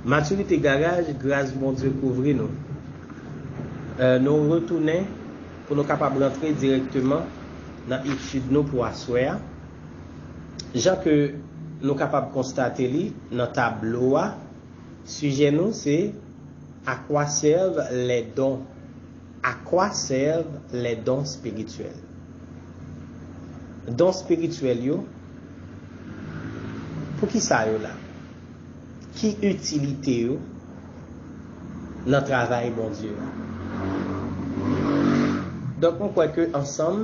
Maturité garaj gras Bondye kouvri nou nou retounen pou nou kapab rantre dirèkteman nan etid nou pou aswè a jan ke nou kapab konstate li nan tablo a sijè nou se A quoi servent les dons à quoi servent les dons spirituels don spirityèl yo poukisa yo la. Ki itilite yo nan travay Bondye a? Donk m kwè ke ansanm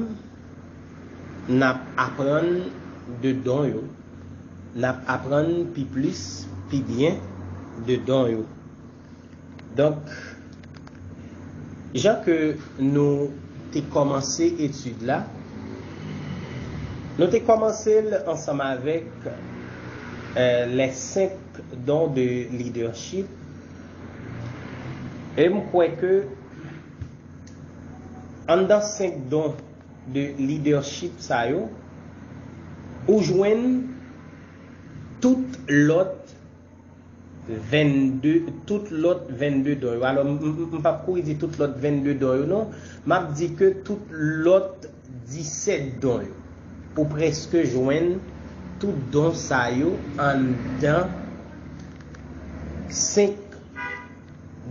n ap aprann de don yo, n ap aprann pi plis, pi byen de don yo. Donk, jan ke nou te kòmanse etid la, nou te kòmanse l ansanm avèk les cinq dons de leadership, e m kwè ke anndan cinq dons de leadership sa yo, ou jwenn tout lòt. 22 tout lòt 22 don yo alò m pap kouri di tout lòt 22 don yo non m ap di ke tout lòt 17 don yo ou prèske jwenn tout don sa yo anndan 5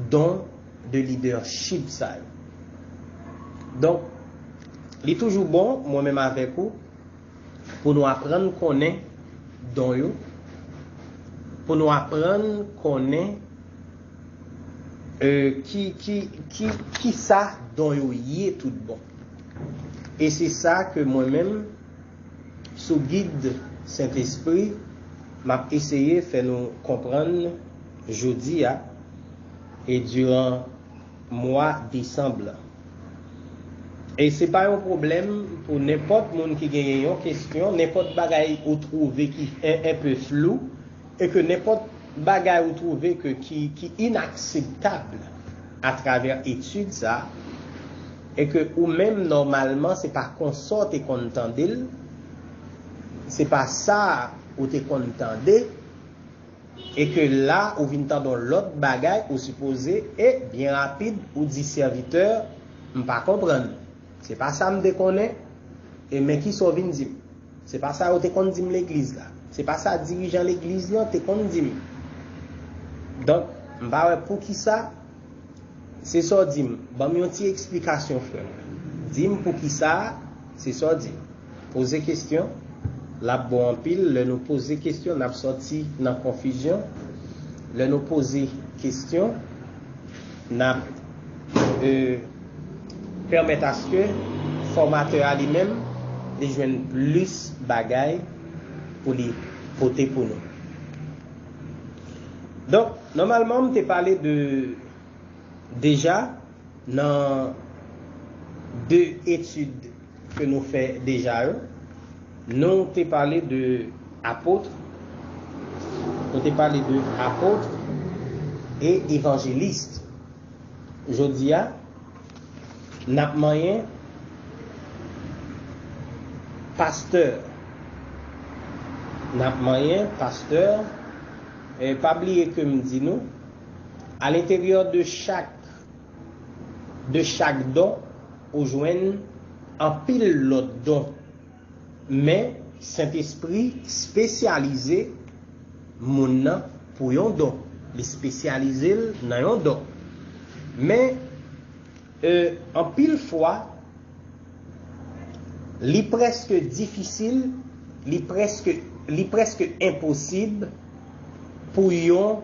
don de leadership sa yo donk li toujou bon mwen menm avèk ou Pou nou aprann konnen don yo Pou nou aprann konnen kisa don yo ye tout bon E se sa ke mwen menm sou gid Sentespri m ap eseye fè nou konprann jodi a e diran mwa desanm lan. E se pa yon pwoblèm pou nenpòt moun ki genyen yon kestyon, nenpòt bagay ou twouve ki enpe flou, e ke nenpòt bagay ou twouve ke ki inakseptab atravè etid sa, e ke ou menm nòmalman se pa konsa w te konn tande l, se pa sa ou te konn tande, E ke la ou vin tande yon lòt bagay ou sipoze e byen rapid ou di sèvitè m pa konprann, se pa sa m te konnen e men kisa w vin di m. Se pa sa yo te konn di m legliz la. Se pa sa dirijan legliz lan te konn di m. Donk, m pa wè poukisa se sa w di m. Ban m yon ti eksplikasyon frè m. Di m poukisa se sa w di m. Poze kesyon, L ap bon anpil lè nou poze kesyon n ap sòti nan konfizyon. Lè nou poze kesyon, n ap pèmèt aske fòmatè a li menm li jwenn plis bagay pou li pote pou nou. Donk, nòmalman m te pale de deja nan de etid. ke nou fè deja yo, nou te pale de apotre, nou te pale de apotre e evangeliste. Jodi a, n ap manyen pastè. N ap manyen pastè. Pa bliye ke m di nou, a l'interieur de chak, de chak don, Ou jwenn anpil lòt don. Men, Sentespri spesyalize moun nan pou yon don. Li spesyalize l nan yon don. Men, e, anpil fwa, li prèske difisil, li prèske, li prèske enposib pou yon.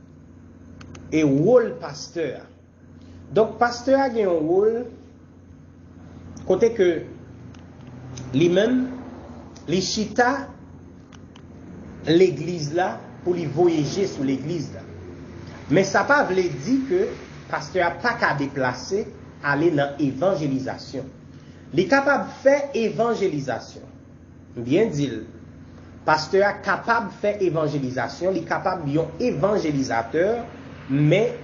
E wol pastè a. Donk pastè a gen yon wol kote ke li menm li chita legliz la pou li voye je sou legliz la. Men sa pa vle di ke pastè a pa ka deplase ale nan evanjelizasyon. Li kapab fè evanjelizasyon. M byen di l. Pastè a kapab fè evanjelizasyon, li kapab yon evanjelizatè, men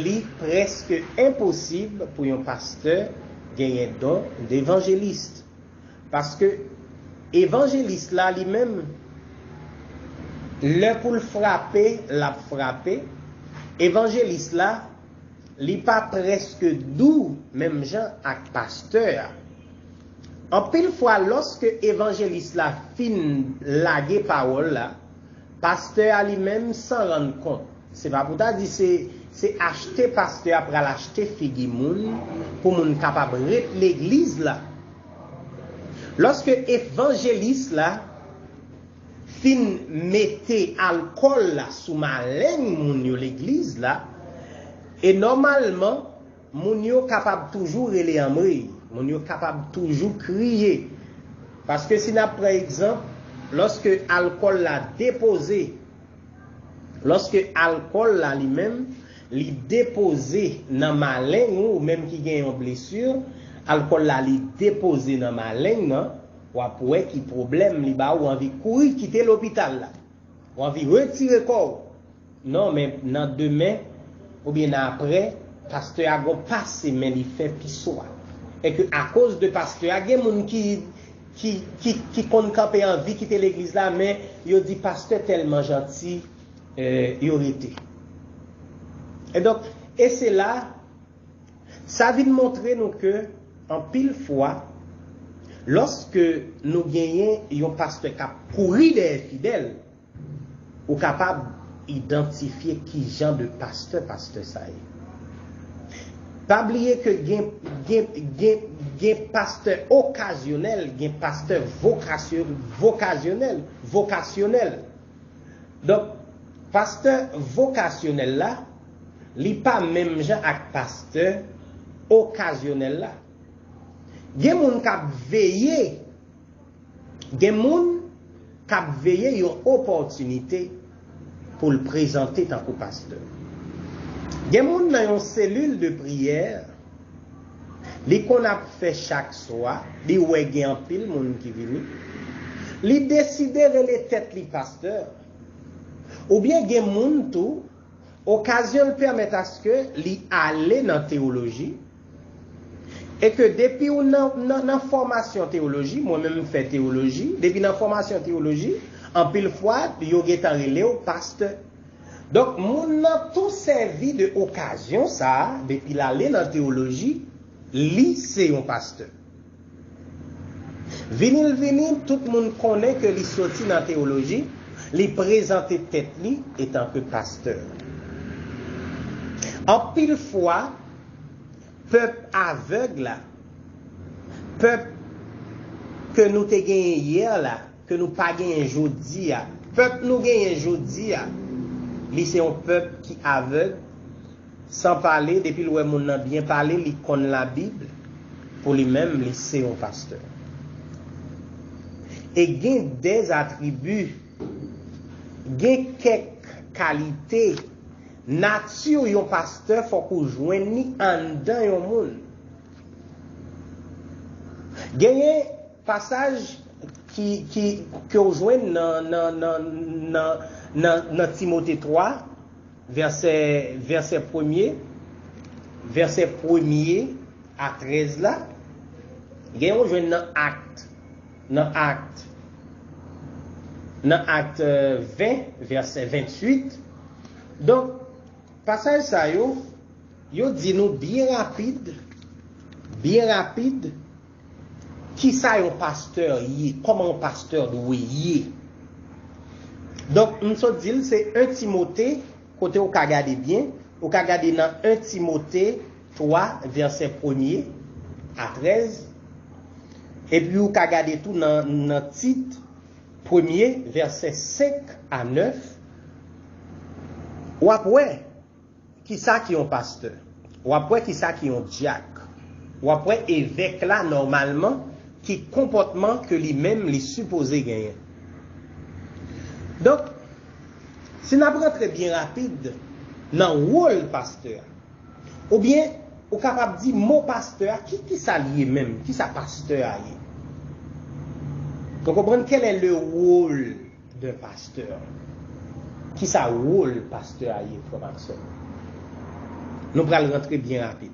li prèske enposib pou yon pastè genyen don devanjelist. Paske evanjelist la li menm, lè pou l frape, l ap frape, evanjelist la, li pa prèske dou menm jan ak pastè a. Anpil fwa lòske evanjelis la fin lage pawòl la, pastè a li menm san rann kont, se pa pou ta di se se achte pastè a pral achte figi moun pou moun kapab ret legliz la. Lòske evanjelis la fin mete alkòl la sou maleng moun yo legliz la, e nòmalman, Moun yo kapab toujou rele anmweyy, moun yo kapab toujou kriye. Paske si n ap pran egzanp, lòske alkòl la depoze, lòske alkòl la li menm, li depoze nan maleng ou, ou menm ki gen yon blesi, alkòl la li depoze nan maleng nan, w ap wè ki pwoblèm li ba ou anvi kouri kite lopital la. Ou anvi retire kò ou. Non men nan demen oubyen nan aprè pastè a gon pase men li fè piso a. E ke akoz de pastè a gen moun ki ki ki ki konn kanpe anvi kite legliz la men yo di pastè tèlman janti yo rete. E donk e se la. Sa vin montre nou ke anpil fwa, lòske nou genyen yon pastè k ap kouri dèyè fidèl, ou kapab idantifye kijan de pastè pastè sa ye. Pa bliye ke gen pastè okazyonèl, gen pastè vokasyonèl. Donk, pastè vokasyonèl la, Li pa menm jan ak pastè okazyonèl la. Gen moun k ap veye Gen moun k ap veye yon opòtinite pou l prezante tankou pastè. Gen moun nan yon selil de priyè li konn ap fè chak swa, li wè gen anpil moun ki vini, li deside rele tèt li pastè. Oubyen gen moun tou Okazyon l pèmèt aske li ale nan tewoloji, e ke depi w nan nan fòmasyon tewoloji, mwen menm m fè tewoloji, depi nan fòmasyon tewoloji, anpil fwa yo gentan rele w pastè. Donk moun nan tou sèvi de okazyon sa a, depi l ale nan tewoloji, li se yon pastè. Vini l vini, tout moun konnen ke li soti nan teyoloji, li prezante tèt li etanke pastè. Anpil fwa, pèp avèg la, pèp ke nou te genyen yè la, Ke nou pa genyen jodi a. Pèp nou genyen jodi a, li se yon pèp ki avèg, san pale, depi l wè moun nan byen pale, li konn Labib, pou li menm, li se yon pastè. E gen dè atribi, gen kèk kalite, nati yon pastè fòk ou jwenn li anndan yon moun. Genyen. Pasaj ke w jwenn nan Timote 3, vèsè premye a trèz la, gen yon w jwenn nan Act, nan Act, nan Act 20, vèsè 28. Donk, pasaj sa yo, yo di nou byen rapid, byen rapid, Kisa yon pastè ye? Kòman yon pastè dwe ye? Donk, m sot di l, se 1 Timote, kote ou ka gade byen, ou ka gade nan 1 Timote 3, vèsè premye a trèz, epi ou ka gade tou nan Tit, premye, vèsè senk a nèf, w ap wè. Kisa ki yon pastè? Wap wè kisa ki yon dyak. Wap wè evèk la nòmalman ki konpòtman ke li menm li sipoze genyen. Donk, si nap rantre byen rapid nan wol pastè a. Oubyen ou kapab di mo pastè a ki kisa li ye menm? Kisa pastè a ye? Nou konprann kèlè le wol D'un pasteur. Kisa wol pastè a ye frè m ak sè m yo. Nou pral rantre byen rapid.